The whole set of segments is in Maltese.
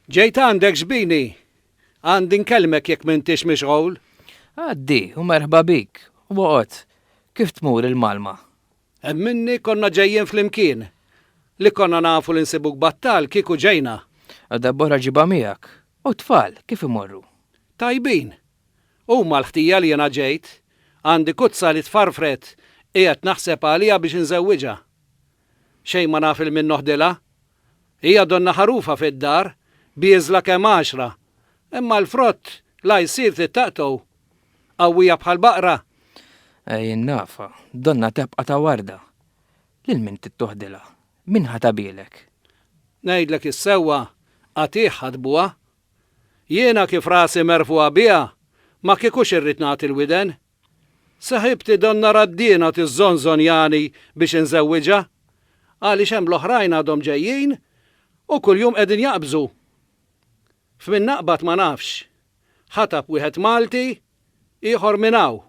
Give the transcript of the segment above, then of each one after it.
Ġejt għandek zbini, għandin kelmek jekk m'intix mixgħul. Għaddi u merħba bik, u għot, kif tmur il-Malma? Hemm minni konna ġejjin flimkien. Li konna nafu li nsibuk battal kieku ġejna. U darb'oħra ġibha miegħek. U t-tfal, kif imorru? Tajbin. Huma l-ħtija li jiena ġejt. Għandi kuzza li tfarfret, qiegħed naħseb għaliha biex inżewwiġha. Xejn ma naf 'il min noħdilha. Hija donna ħarufa fid-dar, bieżla kemm għaxra, imma l-frott la jsir tittaqtgħu. Qawwija bħal baqra. Ej in-nafa, donna tebqa' ta' warda. Lil min tittoħdilha? Min ħa tabielek? Ngħidlek is-sewwa, qatigħ ħadbuha. Jiena kif rasi merfugħa biha, ma kiekux irrid nagħti l-widen. Saħibti donnha Raddina tiżżonżonjani biex inżewwiġha għaliex hemm l-oħrajn għadhom ġejjin u kuljum qegħdin jaqbżu. F'min naqbad ma nafx. Ħatab wieħed Malti, ieħor minn hawn.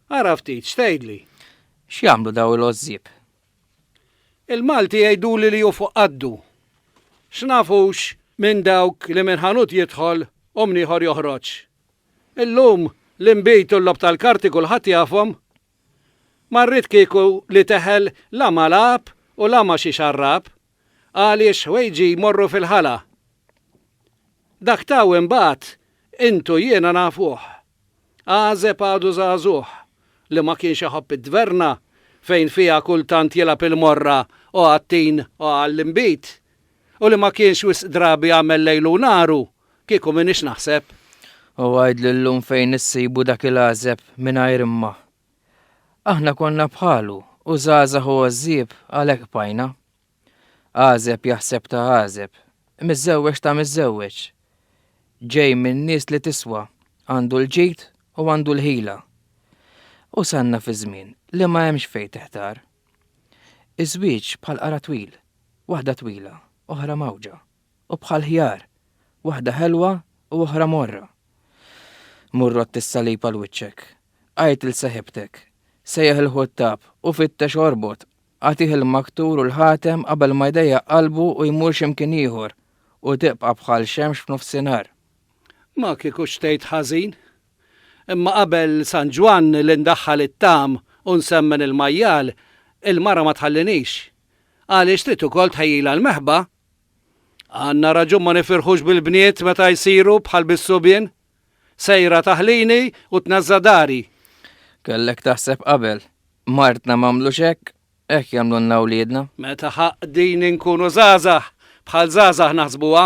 Ara ftit, x'tgħidli? X'jagħmlu dawn il-għożżieb? Il-Malti jgħiduli li hu fuq qaddu. X'nafux minn dawk li minn ħanut jidħol u minn ieħor joħroġ. Illum, l-inbid u l-logħob tal-karti kulħadd jafhom. Ma rrid kieku li teħel la ma' lagħab u la ma' xi xarrab, għaliex ħwejġi jmorru fil-ħala. Dak ta' hawn imbagħad, int u jiena nafuh. Għażeb għadu żagħżugħ, li ma kienx iħobb it-tverna fejn fiha kultant jilgħab il-morra o għat-tin o għall-inbid, u li ma kienx wisq drabi jagħmel lejlu u naru Kieku m'iniex naħseb. U għidli llum fejn issibu dak il-għażeb mingħajr imma. Aħna konna bħalu u żgħażagħ u għożżieb għalhekk bqajna. Għażeb jaħseb ta' għażeb, miżżewweġ ta' miżżewweġ. Ġej minn nies li tiswa, għandu l-ġid u għandu l-ħila. Usanna fi żmien li ma hemmx fejn tiħtar. Iż-żwieġ bħal qara twil, waħda twila, oħra mgħawġa. u bħal ħjar, waħda ħelwa u oħra morra. Mur għodd is-salib għal wiċċek, għid 'l seħibtek, sejjaħ il-ħuttab u fittex orbot, agħtih il-maktur u l-ħatem qabel ma jdejjaq qalbu u jmur xi mkien ieħor u tibqa' bħal xemx f'nofsinhar. Ma kieku xtejt ħażin. Imma qabel San Ġwann li ndaħħal it-tagħam u nsemmen il-majjal, il-mara ma tħallinix. Għaliex trid ukoll tħejjilha l-meħba Għandna raġun ma nifirħux bil-bniet meta jsiru bħal bis-subien? Sejra taħlini u tnażża' dari. Kellek taħseb qabel. Martna m'għamlux hekk, hekk jagħmlulna wliedna. Meta ħaqdin inkunu żgħażagħ, bħal żgħażagħ naħsbuha.